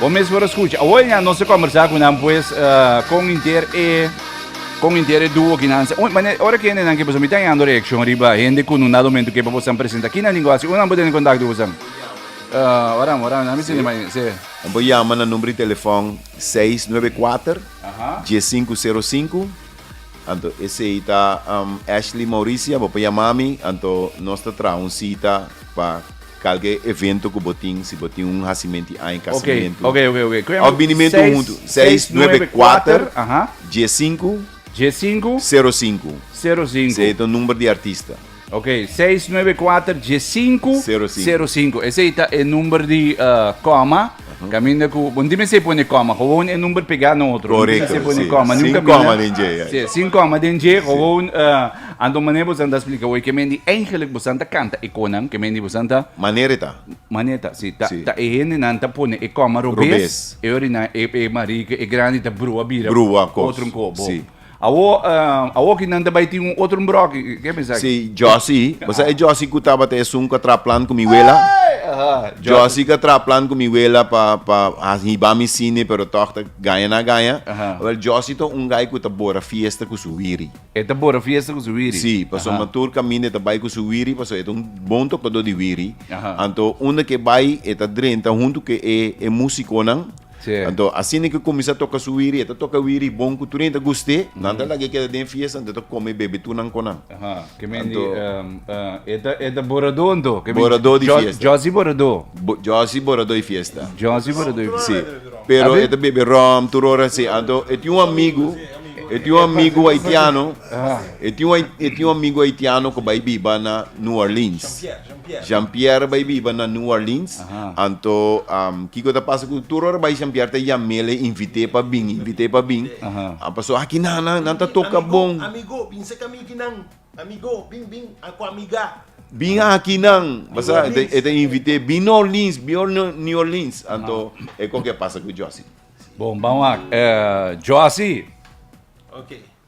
Bo mes por a scucha. Awor ya nos a conversa cu nan pues uh, con inter e con inter e duo kinan. Un, mane, ora que hende nan que pues mi tan yando reaccion riba hende cu nun dado momento que pa bosan presenta. Kinan lingua si unan bo tene contacto bosan. Uh, ora, ora, na mi sinde mai, se. Nan por llama na number di telefon 694 1505. Anto esei ta um, Ashley Mauricia, bo por llama mi, anto nos ta traha un cita pa Kalke evento ku bo tin, si bo tin un hasimenti aña, kasamento. Oke, oke, oke, oke. Òf binimentu huntu. Seis nuebe kuater, dies sinku, sero sinku. Esei ta un number di artista. Oke, seis nuebe kuater, dies sinku, sero sinku. Esei ta e number di kòma. Caminda cu, bo no tin mester pone coma, gewoon e number pegá na otro. Correcto, no tin mester pone sí. coma. Sin Nunca coma den dje, ya, Sí, sin coma den dje, gewoon, uh, anto manera bo san ta explica hoy, que mendi eigenlijk bo san ta canta e conan, que mendi bo san ta, Manera e ta. manera e ta, sí, ta, Sí. ta e hendenan ta pone e coma robes, Robes. e orinan, e, e marica, e grandi ta brua bira Brua cos. otro nco, bo. Sí. Awor, awor ki nan ta bai tin un otro mbroki, ke a pensa aki? Sí, Josy. Bo sa e Josy ku tabata esun ku a traha plan ku mi wela? Ey! Aha, Josy. Josy ku a traha plan ku mi wela pa pa hiba mi sini pero tòg ta gaña na gaña. Aha. Wèl, Josy ta un gai ku ta bora fiesta ku su wiri. E ta bora fiesta ku su wiri? Sí, pasobra Aha. tur kaminda e ta bai ku su wiri pasobra e ta un bon tokadó di wiri. Aha. Anto unda ku e bai e ta drenta huntu ku e e músikonan. Anto asina ke kuminsá toka su wiri, e ta toka wiri bon ku tur hende ta gust'é, nan ta laga e keda den fiesta, anto e ta kome i bebe tur nan konan. Anto, e ta boradó anto, ke men Josy Boradó. Josy Boradó i fiesta. Josy Boradó i fiesta. Sí, pero e ta bebe ròm tur ora, sí. Anto e tin un amigu, e tin un amigu haitiano, e tin un amigu haitiano ku bai biba na New Orleans. Jean-Pierre bai biba na New Orleans, anto kiko ta pasa ku tur ora bai Jean-Pierre ta yam'el, e invit'é pa bin, invit'é pa bin, a paso aki nan, nan, nan ta toka bon. Amigo, bin serka mi aki nan, amigo, bin, bin, a ku amiga. Bin aki nan, pasá e ta invit'é, bin New Orleans, bin New Orleans, anto e koke pasa ku Josie. Bon, bam wak, Josie. Oke.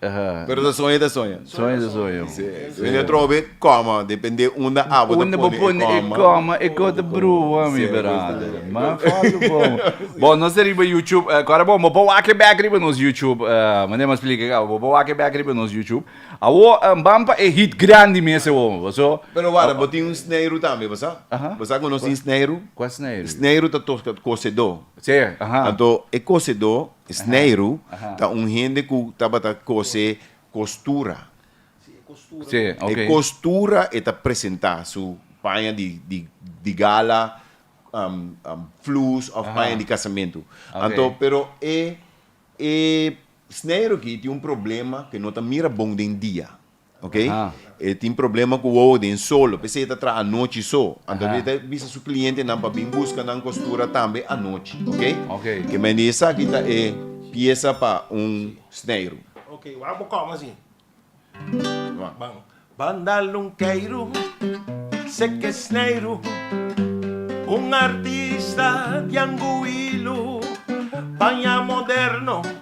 Pero ta soña ta soña. Soña ta soña. Si, si. Unda trova be coma, depende unda abo ta pone e coma. E coma ta brua mi brother. Ma falta bon. Bon nos ta riba YouTube, kore bon bo por wak back riba nos YouTube, mane mas plika kaba, bo por wak back riba nos YouTube. Awor ban pa e hit grandi mes awor mi paso. Pero wara bo tin un sneiru tambe bo sa? Bo sa ku nos tin sneiru? Kua sneiru? Sneiru ta tok kosedó. Si, ahan. Anto e kosedó Snijru ta un hende ku tabata kose kostura. E kostura e ta presentá su paña di gala, flus òf paña di kasamentu. Anto pero e snijru aki tin un problema ku e no ta mira bon den dia. Ok, e tin problema cu wowo den solo, p'esey e ta traha anochi so. Anto e ta bisa su clientenan pa bin busca nan costura tambe anochi, ok? Ke men di esaki ta e piesa pa un sneiru. Ok, wak abo com así. Ban. Ban dal un keiru, seke sneiru, un artista di anguilu, paña moderno.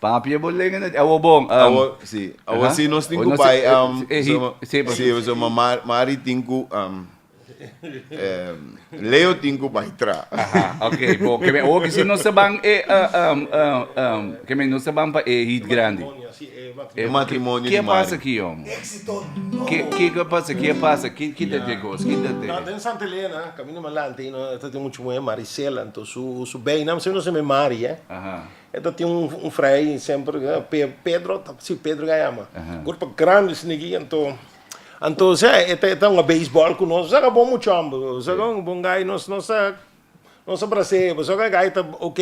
Papia bo lenga na awo bon um. Awo si awo si nos tin ku bai um so ma Mari tin ku um Leo tin ku bai tra. Aha ok bon ke men oki si nos ta ban e um um ke men nos ta ban pa e hit grandi e matrimonio di Mari. Ke a pasa aki young ke ke a pasa ke a pasa ke ke ta te kos ke ta te. No den Santa Elena camino malante ta tin muchu muhé Maricela enton su su bey nam siempre nos ta me Mari eh. E ta tin un frei semper Pedro, si Pedro a yama, cuerpo grandi sneaky anto anto ose e ta e ta hunga beisbol cu nos, esaki a bon mucho homber, esaki a un bon guy, nos nos ta nos ta bras'e, pues esaki guy ta ok,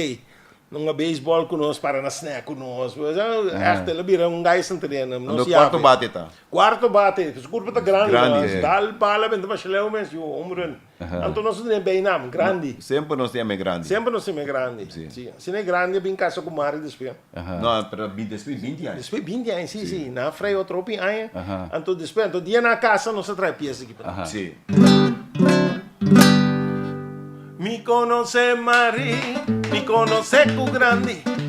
hunga beisbol cu nos, para na snack cu nos, pues esaki echt el a bira un guy santerieno, nos yabe. Anto cuarto bate e ta? Cuarto bate, su cuerpo ta grandi, gal bal a benta pa shleu mes, yu hombre. Anto nos a tene beynaam, Grandi. Semper nos tin e mes grandi. Semper nos tin mes grandi. Si. Si. Asina e grandi a bin casa cu Mari despues. No, pero a bin despues binti aña. Despues binti aña, si, si. Nan a frewa tropi aña. Anto despues, anto dia nan a casa nos a traha e pies aki pa nan. Si. Mi conoce Mari, mi conoce cu Grandi.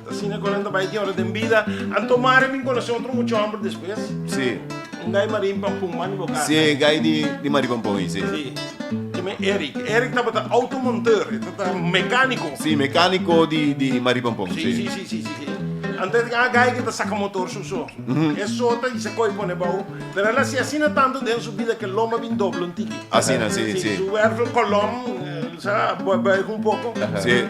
Asina cu nan ta bay diora den bida. Anto Mari a bin conoce otro mucho hombre despues. Sí. Un gay Mari in Pampun, man di bo casa. Sí, gay di, di Mari Pampun in, sí. Sí. Dime Eric. Eric tabata automonteur. E tabata mecanico. Sí, mecanico di, di Mari Pampun, sí. Sí, sí, sí, sí, sí. Anto e a gay cu ta saca motor su so. E sota y sacoy pone bao. Pero el a haci asina tanto den su bida cu e loma bin doble un tiki. Asina, sí, sí. Su wervel colom, el sa, boy, boy un poco. Sí.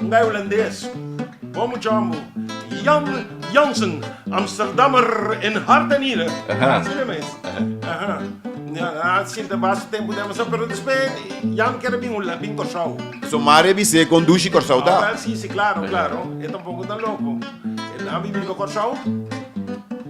Un gai Hulandes, Bo mu djambo, Jan Jansen, Amsterdammer en hart en niere. Aha. Así no mes. Aha. Ja, a sinta basta tempo den Amsterdam, pero despe Jan kere bin Hula, bin Kòrsou. So Mario Bisé kondushi Kòrsou Ah, ta? wel, sí, sí, claro, claro. E tampoco ta loco. E a bibi riba Kòrsou.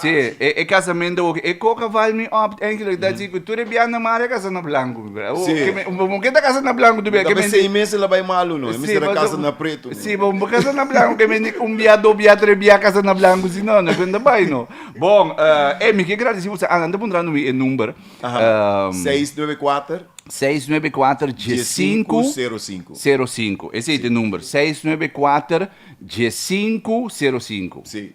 Sí, e, e casamento oki. E coca val mi op, eigenlijk dat si cu tur e bian na mare casa na blanco, mi bra. Sí. Que me, un poco que ta casa na blanco, tu bia que Tapi me. seis meses la bai malu, no. E Sí, mister a maar casa zo- na preto, no. Sí, maar we casa na blanco, que men un bia, do bia, tres bia casa na blanco, si no, no kun da bai, no. Bon, eh, eh, mi ke gratis, si usa, anda puntra no mi e number. Aha. Ehm, 694 694 15 05. 05. Ese es de number. 694 15 05. Sí.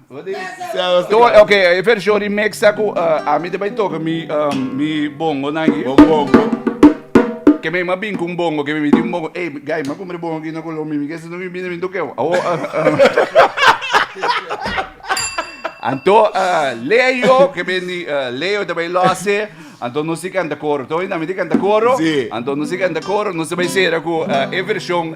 Ok, e version remix ta cu ami ta bay toca mi, um, mi bongo nan aquí. Bongo, bongo. Que me ma bin con bongo, que me di un bongo. Ey, guy, ma compre bongo aquí na Colombia, mi mi que se no mi bin mi toqueo. Awo, Anto, uh, Leo, que ben di, uh, Leo ta bay losse. Anto no si canta coro. Toy na mi di canta coro. Sí. Anto no si canta coro, no se bay sera cu uh, e version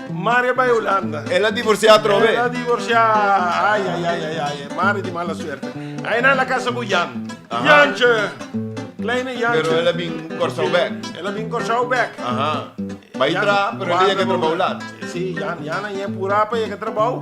Mario bai Hulanda. El a divorciá atrobe. El a divorciá. Ai ai ai ai ai. Mario di mala suerte. Ai na la casa cu Jan. Aha. Jantje. Kleine Jantje. Pero el a bin Kòrsou bek. Sí, el a bin Kòrsou bek. Aha. Bai tra, pero el a yega trabou lat. Sí, Jan, Jan a yega purá pa yega trabou.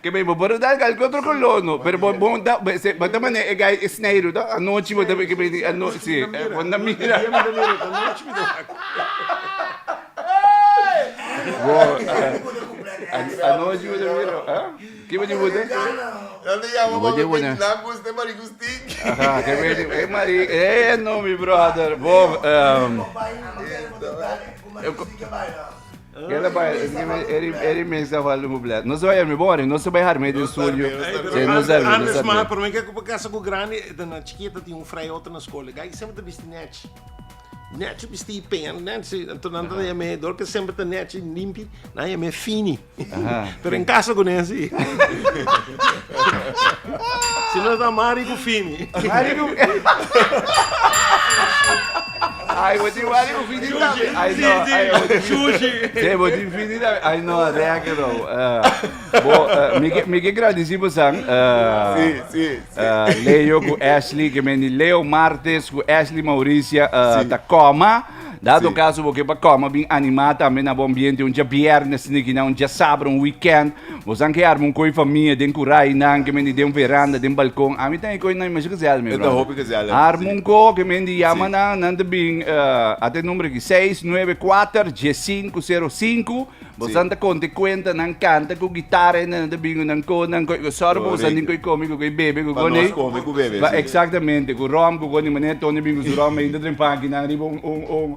Ke bay bo boro dal kalke otro kolor no pero bo bo ta bo ta mane e gai e sneiru to anochi bo ta ke bay ano si bo na mira anochi bo ta mira a ki bo di bo ta e no mi brother bo Keda bai e remix ta falta un blèt. Nos ta bai arm'é bon, nos ta bai arm'é den studio. Nos ta arm'é, nos ta arm'é. Promé ke ku pa kasa ku grandi e ta na chikit a tin un frei otro na skol. E gai semper ta bisti nèchi. Nèchi bisti i peña nèchi. Anto nan ta yam'é dor ke semper ta nèchi limpi, nan yam'é fini. Pero en kasa ku ne si. Si no ta Mari ku Fini. Ay bo tin wari ufini tambe. Ay no, ay bo tin sushi. Sí, bo tin fini tambe. Ay no, reak e no. Uh, bo, uh, mi ke mi ke gradici bo san. Uh, Sí, sí, sí. uh, Leo ku Ashley ke meni Leo Martes ku Ashley Mauricia uh, Sí. ta koma. Dado Sí. caso bo ke pa koma bin animá tambe na bo ambiente un dia biernes niki na un dia sabra un weekend. Bosan ke arma un koi famia den kurai nan ke mendi den un veranda den balkon ami tan e koi nan imashi kese alme brother e ta hopi kese alme arma un ko ke mendi yama si. nan nan ta bin uh at e number aki seis nueve kuater dies sinku sero sinku bosan ta konte kuenta nan kanta ku gitara ende nan ta bin nan ko nan koi ku sòru pa bosan tin koi komi ku koi bebe ku koni pa nos komi ku bebe si exactamente ku ròm ku koni manera Tony bin ku su ròm ainda drempa aki nan riba un un un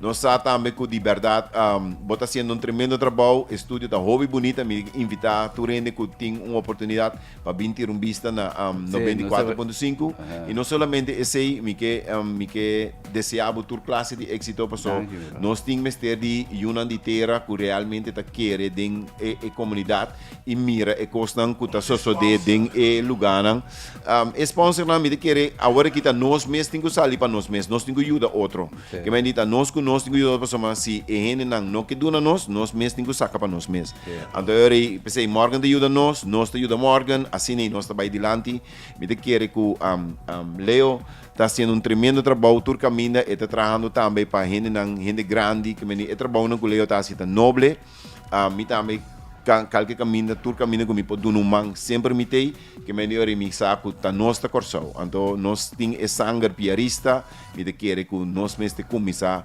Nos sa tambe cu di berdad bo ta haciendo un tremendo trabou, e studio ta hopi bunita, mi invita tur hende cu tin un oportunidad pa bin tira un bista na noventa i kuater punto sinku, y no solamente esey mi ke mi ke desea bo tur clase di exito paso nos tin mester di yunan di tera cu realmente ta kere den e comunidad. y mira e cosnan cu ta sosode den e luganan. E sponsornan mi ta kere awor aki ta nos mes tin cu sali pa nos mes, nos tin cu yuda otro. Ke men di ta nos cu nos tin cu yuda otro pasobra si e hendenan no ke duna nos, nos mes tin cu saca pa nos mes. Anto awor ei p'esei Morgan ta yuda nos, nos ta yuda Morgan, asina nos ta bay dilanti. Mi ta kere cu Leo ta haciendo un tremendo trabou tur caminda, e ta trahando tambe pa hendenan, hende grandi, ke men di e trabounan cu Leo ta haci ta noble. a mi tambe ka kalke kaminda tur kaminda ku mi por duna un man semper mi tei ke mi bai rimi sa ku ta nos ta Kòrsou anto nos tin e sanger piarista mi ta kere ku nos mes te kuminsá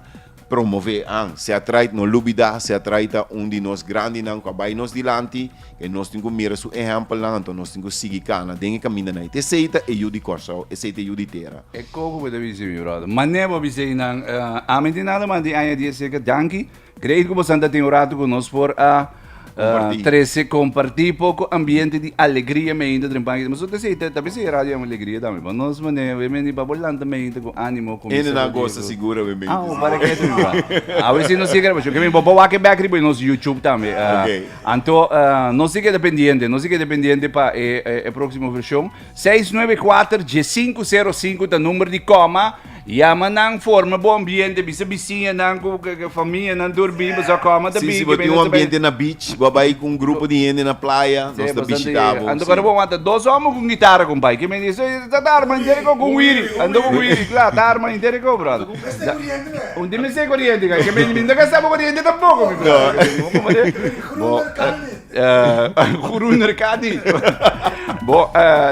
promove an se atraid no lubida se atraid ta un di nos grandinan ku a bai nos dilanti ke nos tin ku mira su ehèmpelnan anto nos tin ku sigui kana den e kamindanan ei te esei ta e yu di Kòrsou esei ta e yu di tera. E koko bo ta bisí mi bròder. Manera bo a bis'ei nan ami tin nada mas di aña di e seke danki. Creí cu boso ta tin un rato cu nos por a Compartí. trece, compartí poco ambiente di alegría meinta den panki. Nos te sei, te- tal vez sei radio en alegría también, pero nos mane, we meni pa por lanta meinta con ánimo, con Ene na Mr. gosta Rodrigo. segura we menti. Ah, para que tu va. A ver si nos sigue grabando. Que me bobo wa que back riba nos YouTube también. Ah, Ok. Anto, ah, nos sigue dependiente, nos sigue dependiente pa eh, eh, eh, próximo versión. Seis nuebe kuater die sinku sero sinku ta number di koma yama nan forma bo ambiente bisa bisiñanan ku famianan durbi pasobra koma ta bigi si bo tin un ambiente na beach bo a bai ku un grupo di hende na playa nos ta bishita bo anto kuando bo wanta dos omber ku un gitara kumbay kimen di eso ta ta arma inter diko ku wiri anto ku wiri kla ta arma inter diko brother un tin mester koriente kay kimen di mi no ta gasta bo koriente tampoko mi brother bo. Guru Nerkadi. Bo,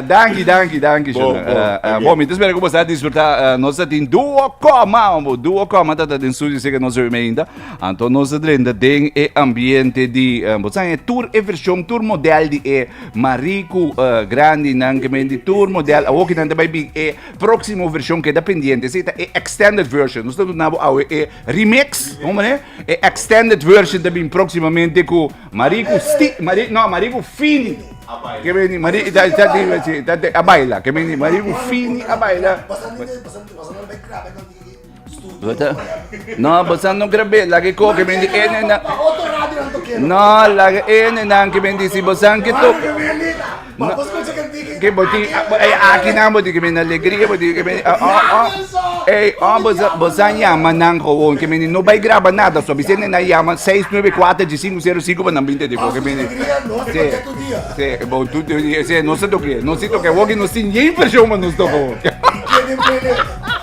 danki, danki, danki, Bo, Shona. bo, Eh, eh, danki. Bo, mi te spera ku bo sa disfruta. eh, Nos ta tin duo koma, bo. Duo koma ta ta den studio, seke nos reme ainda. Anto nos ta drenta den e ambiente di, eh, bo san, e tur e version, tur model di e mariku eh, grandi nan ke men di tur model. Awo ke nan ta bai bin e proksimo version keda pendiente. Esei ta e extended version. Nos ta duna bo awe e Remix, hombre, e extended version ta bin próximamente ku Mariku Sti, Mari, no, Mariku Fini. Ke bini, Mari, ta, ta, ta, si, ta, ta, a baila, ke bini, Mariku Fini a baila. Bota, no, bosa no grabé, lage ko, ke bini, ene na, no, lage ene na, ke bini, si bosa ke to, Ma bo scucha ke tin ke bo tin ey aki nan bo tin ke mene alegria bo tin ke mene ey bo sa yama nan gewoon ke mene no bay graba nada so bisende nan yama seis nuebe cuater di sinku sero sinku pa nan bini tedi bo ke mene si bo tu si nos ta tokia nos si tokia woki nos tin yen version pa nos tok.